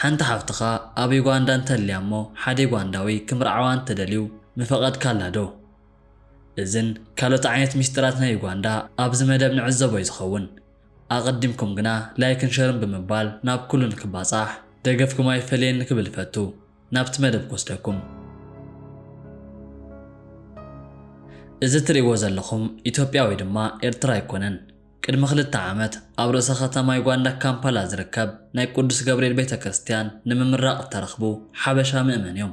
ሓንቲ ሓፍትኻ ኣብ ዩጋንዳ እንተልያ እሞ ሓደ ዩጋንዳዊ ክምርዓዋ እንተደልዩ ምፈቐድካላ ዶ? እዝን ካልኦት ዓይነት ሚስጢራት ናይ ዩጋንዳ ኣብዚ መደብ ንዕዘቦ እዩ ዝኸውን። ኣቐዲምኩም ግና ላይክን ሸርን ብምባል ናብ ኩሉ ንክባጻሕ ደገፍኩም ኣይፈለየኒ ክብል እፈቱ። ናብቲ መደብ ክወስደኩም። እዚ ትርእይዎ ዘለኹም ኢትዮጵያ ወይ ድማ ኤርትራ ኣይኮነን። ቅድሚ ክልተ ዓመት ኣብ ርእሰ ከተማ ዩጋንዳ ካምፓላ ዝርከብ ናይ ቅዱስ ገብርኤል ቤተ ክርስቲያን ንምምራቕ እተረኽቡ ሓበሻ ምእመን እዮም።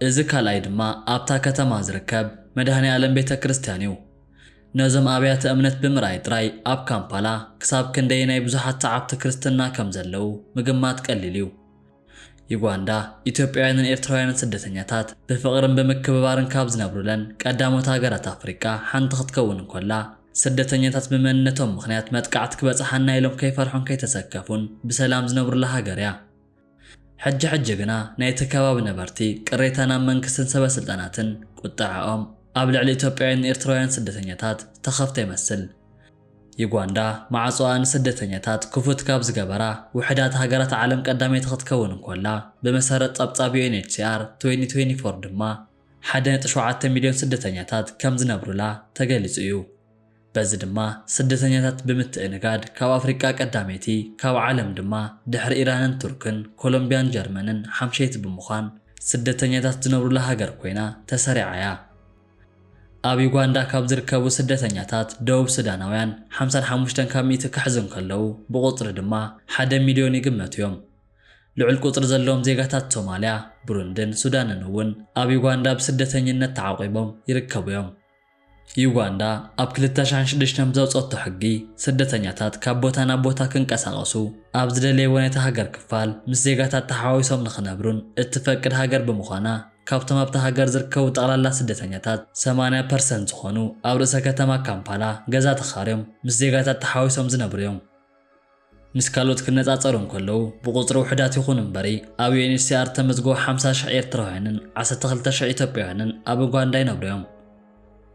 እዚ ካልኣይ ድማ ኣብታ ከተማ ዝርከብ መድኃኔ ዓለም ቤተ ክርስቲያን እዩ። ነዞም ኣብያተ እምነት ብምርኣይ ጥራይ ኣብ ካምፓላ ክሳብ ክንደየናይ ብዙሓት ሰዓብቲ ክርስትና ከም ዘለዉ ምግማት ቀሊል እዩ። ዩጋንዳ፣ ኢትዮጵያውያንን ኤርትራውያንን ስደተኛታት ብፍቕርን ብምክብባርን ካብ ዝነብሩለን ቀዳሞት ሃገራት ኣፍሪቃ ሓንቲ ክትከውን እንኮላ፣ ስደተኛታት ብመንነቶም ምኽንያት መጥቃዕቲ ክበጽሓና ኢሎም ከይፈርሑን ከይተሰከፉን ብሰላም ዝነብሩላ ሃገር እያ። ሕጂ ሕጂ ግና ናይቲ ከባቢ ነበርቲ ቅሬታ ናብ መንግስትን ሰበስልጣናትን ቁጠዐኦም ኣብ ልዕሊ ኢትዮጵያውያንን ኤርትራውያንን ስደተኛታት ዝተኸፍተ ይመስል። ዩጋንዳ ማዕጾኣ ንስደተኛታት ክፉት ካብ ዝገበራ ውሕዳት ሃገራት ዓለም ቀዳመይቲ ክትከውን እንኮላ፣ ብመሰረት ጸብጻብ UNHCR 2024 ድማ ሓደ ነጥቢ ሸውዓተ ሚልዮን ስደተኛታት ከም ዝነብሩላ ተገሊጹ እዩ። በዚ ድማ ስደተኛታት ብምትእንጋድ ካብ ኣፍሪቃ ቀዳመይቲ፣ ካብ ዓለም ድማ ድሕሪ ኢራንን ቱርክን፣ ኮሎምብያን ጀርመንን ሓምሸይቲ ብምዃን ስደተኛታት ዝነብሩላ ሃገር ኮይና ተሰሪዓ እያ። ኣብ ዩጋንዳ ካብ ዝርከቡ ስደተኛታት ደቡብ ሱዳናውያን ሓምሳን ሓሙሽተን ካብ ሚእቲ ክሕዙ እንከለዉ፣ ብቑጽሪ ድማ ሓደ ሚልዮን ይግመቱ'ዮም። ልዑል ቁጽሪ ዘለዎም ዜጋታት ሶማልያ፣ ብሩንድን ሱዳንን'ውን ኣብ ዩጋንዳ ብስደተኝነት ተዓቚቦም ይርከቡ'ዮም። ዩጋንዳ ኣብ ክልተ ሽሕን ሽዱሽተን ብዘውጸቶ ሕጊ፣ ስደተኛታት ካብ ቦታ ናብ ቦታ ክንቀሳቐሱ፣ ኣብ ዝደለይዎ ናይታ ሃገር ክፋል ምስ ዜጋታት ተሓዋዊሶም ንኽነብሩን እትፈቅድ ሃገር ብምዃና፣ ካብቶም ኣብታ ሃገር ዝርከቡ ጠቕላላ ስደተኛታት ሰማንያ ፐርሰንት ዝኾኑ ኣብ ርእሰ ከተማ ካምፓላ ገዛ ተኻርዮም ምስ ዜጋታት ተሓዋዊሶም ዝነብሩ እዮም። ምስ ካልኦት ክነጻጸሩ እንከለዉ ብቑጽሪ ውሑዳት ይኹኑ እምበሪ ኣብ UNHCR እተመዝገቡ ሓምሳ ሽሕ ኤርትራውያንን ዓሰርተ ክልተ ሽሕ ኢትዮጵያውያንን ኣብ ኡጋንዳ ይነብሩ እዮም።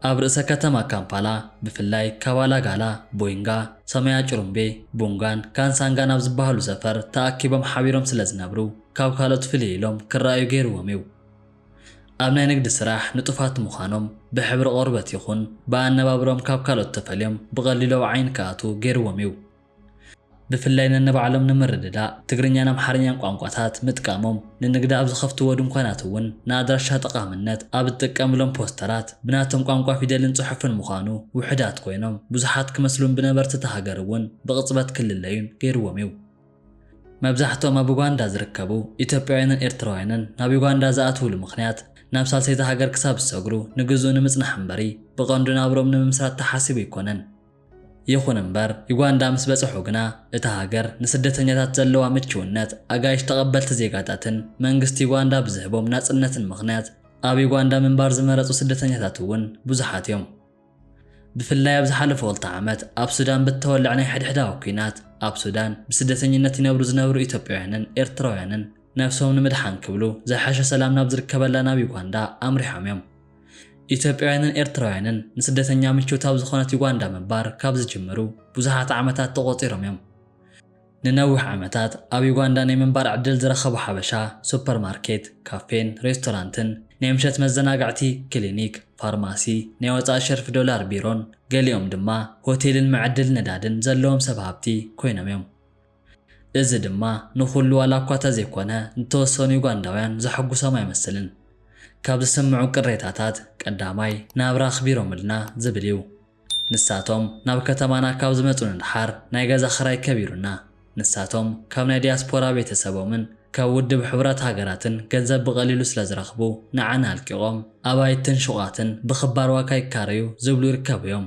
ኣብ ርእሰ ከተማ ካምፓላ ብፍላይ ካባላ ጋላ፣ ቦይንጋ፣ ሰማያ ጭሩምቤ፣ ቡንጋን ካንሳንጋን ኣብ ዝበሃሉ ሰፈር ተኣኪቦም ሓቢሮም ስለ ዝነብሩ ካብ ካልኦት ፍልይ ኢሎም ክረኣዩ ገይርዎም እዩ። ኣብ ናይ ንግዲ ስራሕ ንጡፋት ምዃኖም ብሕብሪ ቆርበት ይኹን ብኣነባብርኦም ካብ ካልኦት ተፈልዮም ብቐሊሉ ኣብ ዓይኒ ክኣትዉ ገይርዎም እዩ። ብፍላይ ነንባዕሎም ንምርድዳእ ትግርኛን ኣምሓርኛን ቋንቋታት ምጥቃሞም፣ ንንግዲ ኣብ ዝኸፍትዎ ድንኳናት እውን ንኣድራሻ ጠቓምነት ኣብ እትጥቀምሎም ፖስተራት ብናቶም ቋንቋ ፊደልን ጽሑፍን ምዃኑ ውሑዳት ኮይኖም ብዙሓት ክመስሉን ብነበርቲ እታ ሃገር እውን ብቕጽበት ክልለዩን ገይርዎም እዩ። መብዛሕትኦም ኣብ ኡጋንዳ ዝርከቡ ኢትዮጵያውያንን ኤርትራውያንን ናብ ዩጋንዳ ዝኣትውሉ ምኽንያት ናብ ሳልሰይቲ ሃገር ክሳብ ዝሰግሩ ንግዝኡ ንምጽናሕ እምበሪ ብቐንዱ ናብርኦም ንምምስራት ተሓሲቡ ኣይኮነን። ይኹን እምበር ዩጋንዳ ምስ በጽሑ ግና እታ ሃገር ንስደተኛታት ዘለዋ ምችውነት፣ ኣጋይሽ ተቐበልቲ ዜጋታትን መንግስቲ ዩጋንዳ ብዝህቦም ናጽነትን ምኽንያት ኣብ ዩጋንዳ ምንባር ዝመረጹ ስደተኛታት እውን ብዙሓት እዮም። ብፍላይ ኣብ ዝሓለፉ ክልተ ዓመት ኣብ ሱዳን ብእተወልዐ ናይ ሕድሕዳዊ ኲናት፣ ኣብ ሱዳን ብስደተኝነት ይነብሩ ዝነበሩ ኢትዮጵያውያንን ኤርትራውያንን ነብሶም ንምድሓን ክብሉ ዝሐሸ ሰላም ናብ ዝርከበላ ናብ ዩጋንዳ ኣምሪሖም እዮም። ኢትዮጵያውያንን ኤርትራውያንን ንስደተኛ ምችውቲ ኣብ ዝኾነት ዩጋንዳ ምንባር ካብ ዝጅምሩ ብዙሓት ዓመታት ተቖጺሮም እዮም። ንነዊሕ ዓመታት ኣብ ዩጋንዳ ናይ ምንባር ዕድል ዝረኸቡ ሓበሻ፣ ሱፐር ማርኬት፣ ካፌን ሬስቶራንትን፣ ናይ ምሸት መዘናግዕቲ፣ ክሊኒክ፣ ፋርማሲ፣ ናይ ወጻኢ ሸርፊ ዶላር ቢሮን ገሊኦም ድማ ሆቴልን መዐደሊ ነዳድን ዘለዎም ሰብ ሃብቲ ኮይኖም እዮም። እዚ ድማ ንኹሉ ዋላ እኳ ተዘይኮነ ንተወሰኑ ዩጋንዳውያን ዘሐጉሶም ኣይመስልን። ካብ ዝስምዑ ቅሬታታት ቀዳማይ ናብራ ኣኽቢሮምልና ዝብል እዩ። ንሳቶም ናብ ከተማና ካብ ዝመጹ ንደሓር ናይ ገዛ ክራይ ከቢሩና፣ ንሳቶም ካብ ናይ ዲያስፖራ ቤተሰቦምን ካብ ውድብ ሕቡራት ሃገራትን ገንዘብ ብቐሊሉ ስለ ዝረኽቡ ንዓና ኣልቂቖም ኣባይትን ሹቓትን ብኽባር ዋጋ ይካረዩ ዝብሉ ይርከቡ'ዮም።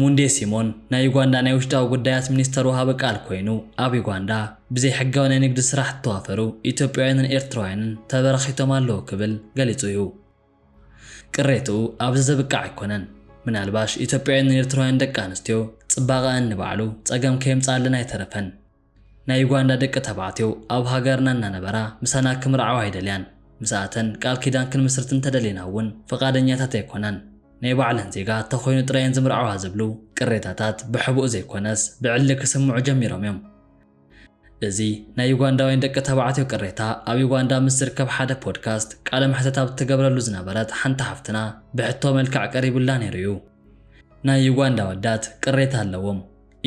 ሙንዴ ሲሞን ናይ ዩጋንዳ ናይ ውሽጣዊ ጉዳያት ሚኒስተር ወሃቢ ቃል ኮይኑ፣ ኣብ ዩጋንዳ ብዘይሕጋዊ ናይ ንግዲ ስራሕ ዝተዋፈሩ ኢትዮጵያውያንን ኤርትራውያንን ተበራኺቶም ኣለዉ ክብል ገሊጹ እዩ። ቅሬትኡ ኣብዚ ዘብቅዕ ኣይኮነን። ምናልባሽ ኢትዮጵያውያንን ኤርትራውያን ደቂ ኣንስትዮ ጽባቐኣን ንባዕሉ ጸገም ከየምጽኣለን ኣይተረፈን። ናይ ዩጋንዳ ደቂ ተባዕትዮ ኣብ ሃገርና እናነበራ ምሳና ክምርዓዋ ኣይደልያን። ምሳኣተን ቃል ኪዳን ክንምስርት እንተደሊና እውን ፍቓደኛታት ኣይኮናን። ናይ ባዕለን ዜጋ እንተኾይኑ ጥራይ እየን ዝምርዓዋ ዝብሉ ቅሬታታት ብሕቡእ ዘይኮነስ ብዕሊ ክስምዑ ጀሚሮም እዮም። እዚ ናይ ዩጋንዳውያን ደቂ ተባዕትዮ ቅሬታ ኣብ ዩጋንዳ ምስ ዝርከብ ሓደ ፖድካስት ቃለ መሕተት ኣብ እትገብረሉ ዝነበረት ሓንቲ ሓፍትና ብሕቶ መልክዕ ቀሪቡላ ነይሩ እዩ። ናይ ዩጋንዳ ኣወዳት ቅሬታ ኣለዎም።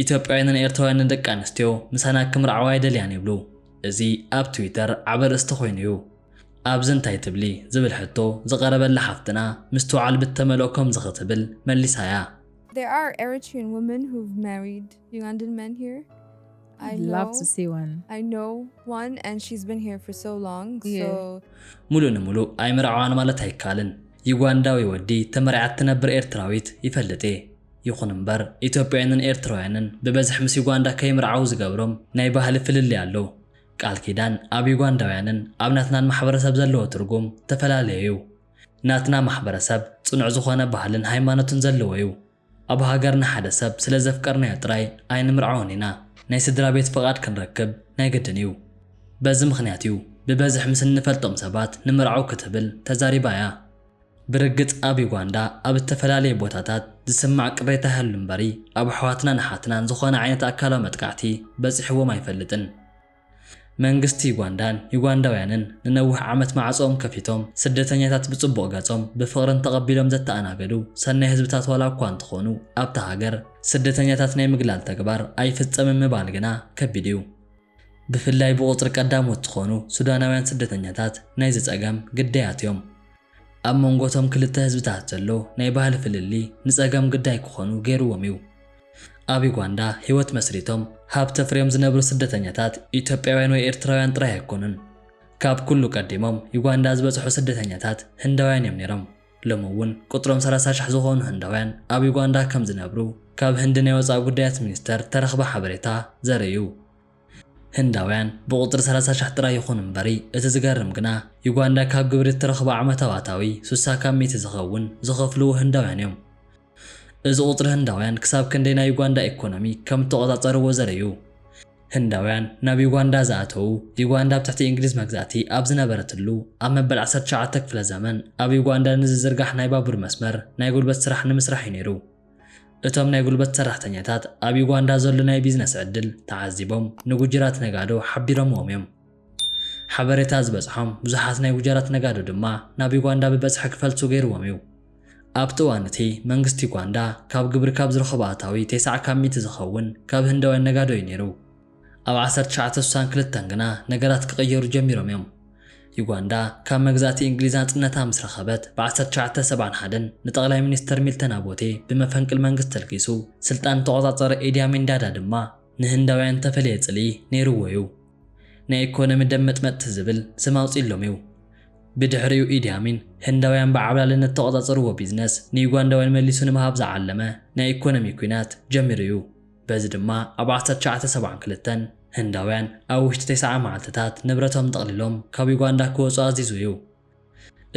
ኢትዮጵያውያንን ኤርትራውያንን ደቂ ኣንስትዮ ምሳና ክምርዓዋ ኣይደልያን ይብሉ። እዚ ኣብ ትዊተር ዓቢ ኣርእስቲ ኮይኑ እዩ። ኣብዚ እንታይ ትብሊ ዝብል ሕቶ ዝቐረበላ ሓፍትና ምስትውዓል ብተመልኦ ከምዚ ክትብል መሊሳ እያ። There are Eritrean women who've married Ugandan men here? I I'd love know- to see one. I know one and she's been here for so long, Yeah. so ሙሉእ ንሙሉእ ኣይምርዓዋን ማለት ኣይከኣልን። ዩጋንዳዊ ወዲ ተመርዕያ እትነብር ኤርትራዊት ይፈልጥ እየ። ይኹን እምበር ኢትዮጵያውያንን ኤርትራውያንን ብበዝሒ ምስ ዩጋንዳ ከይምርዓዉ ዝገብሮም ናይ ባህሊ ፍልልይ ኣሎ። ቃል ኪዳን ኣብ ዩጋንዳውያንን ኣብ ናትናን ማሕበረሰብ ዘለዎ ትርጉም ተፈላለየ'ዩ። ናትና ማሕበረሰብ ጽኑዕ ዝኾነ ባህልን ሃይማኖትን ዘለዎ'ዩ። ኣብ ሃገርና ሓደ ሰብ ስለ ዘፍቀርናዮ ጥራይ ኣይንምርዓዎን ኢና፣ ናይ ስድራቤት ፍቓድ ክንረክብ ናይ ግድን'ዩ። በዚ ምኽንያት'ዩ ብበዝሒ ምስ እንፈልጦም ሰባት ንምርዓው ክትብል ተዛሪባ'ያ። ብርግጽ ኣብ ዩጋንዳ ኣብ እተፈላለየ ቦታታት ዝስማዕ ቅሬታ ይሃሉ እምበሪ ኣብ ኣሕዋትናን ኣሓትናን ዝኾነ ዓይነት ኣካላዊ መጥቃዕቲ በጺሕዎም ኣይፈልጥን። መንግስቲ ዩጋንዳን ዩጋንዳውያንን ንነውሕ ዓመት ማዕጾኦም ከፊቶም ስደተኛታት ብጽቡቕ ገጾም ብፍቕርን ተቐቢሎም ዘተኣናገዱ ሰናይ ህዝብታት ዋላ እኳ እንተኾኑ ኣብታ ሃገር ስደተኛታት ናይ ምግላል ተግባር ኣይፍጸምን ምባል ግና ከቢድ እዩ። ብፍላይ ብቑጽሪ ቀዳሞት ዝኾኑ ሱዳናውያን ስደተኛታት ናይዚ ጸገም ግዳያት እዮም። ኣብ መንጎ እቶም ክልተ ህዝብታት ዘሎ ናይ ባህሊ ፍልልይ ንጸገም ግዳይ ክኾኑ ገይርዎም እዩ። ኣብ ዩጋንዳ ህይወት መስሪቶም ሃብቲ ኣፍርዮም ዝነብሩ ስደተኛታት ኢትዮጵያውያን ወይ ኤርትራውያን ጥራይ ኣይኮኑን። ካብ ኩሉ ቀዲሞም ዩጋንዳ ዝበጽሑ ስደተኛታት ህንዳውያን እዮም ነይሮም። ሎሚ እውን ቁጽሮም ሰላሳ ሽሕ ዝኾኑ ህንዳውያን ኣብ ዩጋንዳ ከም ዝነብሩ ካብ ህንዲ ናይ ወጻኢ ጉዳያት ሚኒስተር እተረኽበ ሓበሬታ ዘርኢ እዩ። ህንዳውያን ብቑጽሪ ሰላሳ ሽሕ ጥራይ ይኹኑ እምበሪ እቲ ዝገርም ግና ዩጋንዳ ካብ ግብሪ እትረኽቦ ዓመታዊ ኣታዊ ሱሳ ካብ ሚእቲ ዝኸውን ዝኸፍልዎ ህንዳውያን እዮም። እዚ ቁጽሪ ህንዳውያን ክሳብ ክንደይ ናይ ዩጋንዳ ኤኮኖሚ ከም እተቖጻጸርዎ ዘርኢ እዩ። ህንዳውያን ናብ ዩጋንዳ ዝኣተዉ፣ ዩጋንዳ ኣብ ትሕቲ እንግሊዝ መግዛእቲ ኣብ ዝነበረትሉ ኣብ መበል ዓሰርተ ትሽዓተ ክፍለ ዘመን ኣብ ዩጋንዳ ንዝዝርጋሕ ናይ ባቡር መስመር ናይ ጉልበት ስራሕ ንምስራሕ እዩ ነይሩ። እቶም ናይ ጉልበት ሰራሕተኛታት ኣብ ዩጋንዳ ዘሎ ናይ ቢዝነስ ዕድል ተዓዚቦም ንጉጅራት ነጋዶ ሓቢሮምዎም እዮም። ሓበሬታ ዝበጽሖም ብዙሓት ናይ ጉጀራት ነጋዶ ድማ ናብ ዩጋንዳ ብበጽሒ ክፈልሱ ገይርዎም እዩ። ኣብቲ እዋን እቲ፣ መንግስቲ ዩጋንዳ ካብ ግብሪ ካብ ዝረኽቦ ኣታዊ ተስዓ ካብ ሚእቲ ዝኸውን ካብ ህንዳውያን ነጋዶ እዩ ነይሩ። ኣብ ዓሰርተ ትሽዓተ ስሳን ክልተን ግና ነገራት ክቕየሩ ጀሚሮም እዮም። ዩጋንዳ ካብ መግዛእቲ እንግሊዝ ናጽነታ ምስ ረኸበት ብ ዓሰርተ ትሽዓተ ሰብዓን ሓደን ንጠቕላይ ሚኒስተር ሚልተን ኣቦቴ ብመፈንቅል መንግስቲ ተልጊሱ ስልጣን እተቖጻጸረ ኤዲ ኣሚን ዳዳ ድማ ንህንዳውያን እተፈለየ ጽልኢ ነይርዎ እዩ። ናይ ኤኮኖሚ ደም መጥመጥቲ ዝብል ስም ኣውጺእሎም እዩ። ብድሕሪኡ ኢዲ ኣሚን ህንዳውያን ብዓብላልነት ዝተቖጻጸርዎ ቢዝነስ ንዩጋንዳውያን መሊሱ ንምሃብ ዝዓለመ ናይ ኤኮኖሚ ኲናት ጀሚሩ እዩ። በዚ ድማ ኣብ ዓሰርተ ትሽዓተ ሰብዓን ክልተን ህንዳውያን ኣብ ውሽጢ ተስዓ መዓልቲታት ንብረቶም ጠቕሊሎም ካብ ዩጋንዳ ክወጹ ኣዚዙ እዩ።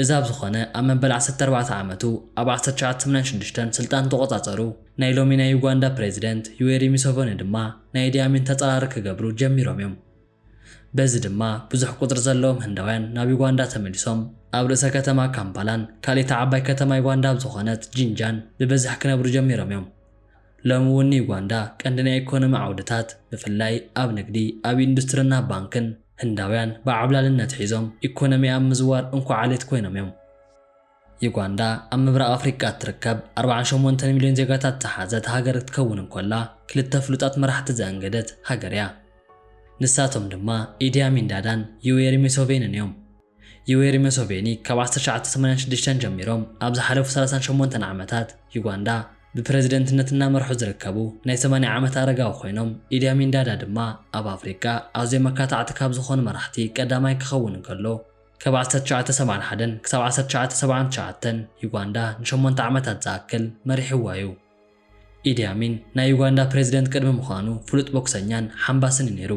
እዚ ኣብ ዝኾነ ኣብ መበል ዓሰርተ ኣርባዕተ ዓመቱ ኣብ ዓሰርተ ትሽዓተ ሰማንያን ሽዱሽተን ስልጣን ዝተቖጻጸሩ ናይ ሎሚ ናይ ዩጋንዳ ፕረዚደንት ዩዌሪ ሙሰቨኒ ድማ ናይ ኢዲ ኣሚን ተጻራሪ ክገብሩ ጀሚሮም እዮም። በዚ ድማ ብዙሕ ቁጽሪ ዘለዎም ህንዳውያን ናብ ዩጋንዳ ተመሊሶም ኣብ ርእሰ ከተማ ካምፓላን ካልኢታ ዓባይ ከተማ ዩጋንዳ ኣብ ዝኾነት ጂንጃን ብብዝሒ ክነብሩ ጀሚሮም እዮም። ሎሚ እውን ንዩጋንዳ ቀንዲ ናይ ኢኮኖሚ ዓውድታት ብፍላይ ኣብ ንግዲ፣ ኣብ ኢንዱስትሪን ኣብ ባንክን ህንዳውያን ብዓብላልነት ሒዞም ኢኮኖሚኣ ኣብ ምዝዋር እንኮ ዓሌት ኮይኖም እዮም። ዩጋንዳ ኣብ ምብራቕ ኣፍሪቃ እትርከብ ኣርብዓን ሸሞንተን ሚልዮን ዜጋታት ዝሓዘት ሃገር ክትከውን እንኮላ ክልተ ፍሉጣት መራሕቲ ዘእንገደት ሃገር እያ። ንሳቶም ድማ ኢዲ ኣሚን ዳዳን ዩዌሪ ሙሶቬንን እዮም። ዩዌሪ መሶቬኒ ካብ ዓሰርተ ትሽዓተ ሰማንያን ሽዱሽተን ጀሚሮም ኣብ ዝሓለፉ ሰላሳን ሸሞንተን ዓመታት ዩጋንዳ ብፕረዚደንትነት እናመርሑ ዝርከቡ ናይ ሰማንያ ዓመት ኣረጋዊ ኮይኖም፣ ኢዲ ኣሚን ዳዳ ድማ ኣብ ኣፍሪቃ ኣዝዮም ኣካታዕቲ ካብ ዝኾኑ መራሕቲ ቀዳማይ ክኸውን እንከሎ፣ ካብ ዓሰርተ ትሽዓተ ሰብዓን ሓደን ክሳብ ዓሰርተ ትሽዓተ ሰብዓን ትሽዓተን ዩጋንዳ ንሸሞንተ ዓመታት ዝኣክል መሪሕዋ እዩ። ኢዲ ኣሚን ናይ ዩጋንዳ ፕረዚደንት ቅድሚ ምዃኑ ፍሉጥ ቦክሰኛን ሓምባስን እዩ ነይሩ።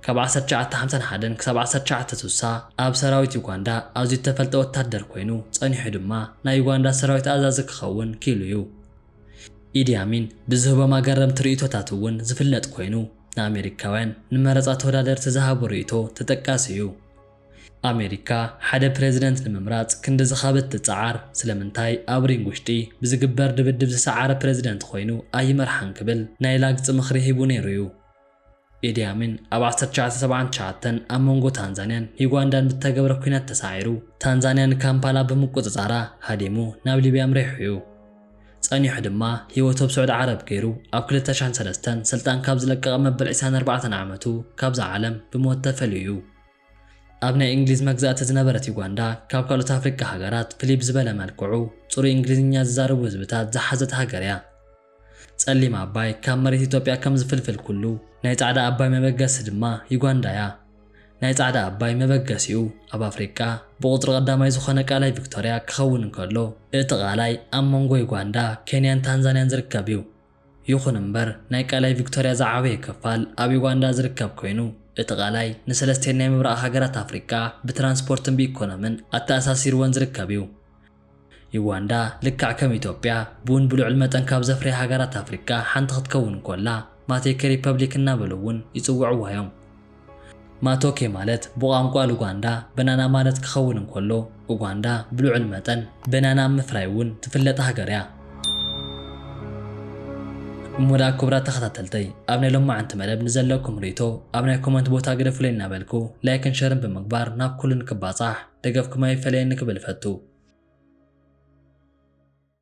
ካብ ዓሰርተ ትሽዓተ ሓምሳን ሓደን ክሳብ ዓሰርተ ትሽዓተ ስሳ ኣብ ሰራዊት ዩጋንዳ ኣዝዩ እተፈልጠ ወተሃደር ኰይኑ፣ ጸኒሑ ድማ ናይ ዩጋንዳ ሰራዊት ኣዛዚ ክኸውን ክኢሉ እዩ። ኢዲ ኣሚን ብዝህቦም ኣገረምቲ ርእይቶታት እውን ዝፍለጥ ኰይኑ፣ ንኣመሪካውያን ንመረጻ ተወዳደርቲ ዝሃቦ ርእይቶ ተጠቃሲ እዩ። ኣሜሪካ ሓደ ፕረዚደንት ንምምራጽ ክንዲ ዝኻበት ትጽዓር፣ ስለምንታይ ኣብ ሪንግ ውሽጢ ብዝግበር ድብድብ ዝሰዓረ ፕረዚደንት ኮይኑ ኣይመርሓን ክብል ናይ ላግጺ ምኽሪ ሂቡ ነይሩ'ዩ። ኢዲ ኣሚን ኣብ ዓሰርተ ትሽዓተ ሰብዓን ትሽዓተን ኣብ መንጎ ታንዛንያን ዩጋንዳን ብዝተገብረ ኲናት ተሳዒሩ፣ ታንዛንያ ንካምፓላ ብምቁጽጻራ ሃዲሙ ናብ ሊብያ ኣምሪሑ'ዩ። ጸኒሑ ድማ ህይወቱ ኣብ ስዑዲ ዓረብ ገይሩ ኣብ ክልተ ሽሕን ሰለስተን ስልጣን ካብ ዝለቀቐ መበል ዒስራን ኣርባዕተን ዓመቱ ካብዛ ዓለም ብሞት ተፈልዩ'ዩ። ኣብ ናይ እንግሊዝ መግዛእቲ ዝነበረት ዩጋንዳ ካብ ካልኦት ኣፍሪቃ ሃገራት ፍልይ ብዝበለ መልክዑ ጽሩይ እንግሊዝኛ ዝዛረቡ ህዝብታት ዝሓዘት ሃገር እያ። ጸሊም ኣባይ ካብ መሬት ኢትዮጵያ ከም ዝፍልፍል ኩሉ ናይ ጻዕዳ ኣባይ መበገሲ ድማ ዩጋንዳ እያ። ናይ ጻዕዳ ኣባይ መበገሲኡ ኣብ ኣፍሪቃ ብቑጽሪ ቀዳማይ ዝኾነ ቃላይ ቪክቶርያ ክኸውን እንከሎ እቲ ቃላይ ኣብ መንጎ ዩጋንዳ፣ ኬንያን ታንዛንያን ዝርከብ እዩ። ይኹን እምበር ናይ ቃላይ ቪክቶርያ ዝዓበየ ክፋል ኣብ ዩጋንዳ ዝርከብ ኮይኑ፣ እቲ ቃላይ ንሰለስቲኤን ናይ ምብራቕ ሃገራት ኣፍሪቃ ብትራንስፖርትን ብኢኮኖምን ኣተኣሳሲርወን ዝርከብ እዩ። ዩጋንዳ ልክዕ ከም ኢትዮጵያ ቡን ብልዑል መጠን ካብ ዘፍርያ ሃገራት ኣፍሪቃ ሓንቲ ክትከውን እንኮላ ማቴከ ሪፐብሊክ እናበሉ እውን ይጽውዕዋ እዮም። ማቶኬ ማለት ብቋንቋ ሉጋንዳ በናና ማለት ክኸውን እንከሎ፣ ኡጋንዳ ብልዑል መጠን በናና ኣብ ምፍራይ እውን ትፍለጥ ሃገር እያ። እሞ ደኣ ክቡራት ተኸታተልተይ ኣብ ናይ ሎማዓንቲ መደብ ንዘለኩም ሪኢቶ ኣብ ናይ ኮመንት ቦታ ግደፉለይ እናበልኩ ላይክን ሸርን ብምግባር ናብ ኩሉ ንክባጻሕ ደገፍኩም ኣይፈለየኒ ክብል እፈቱ።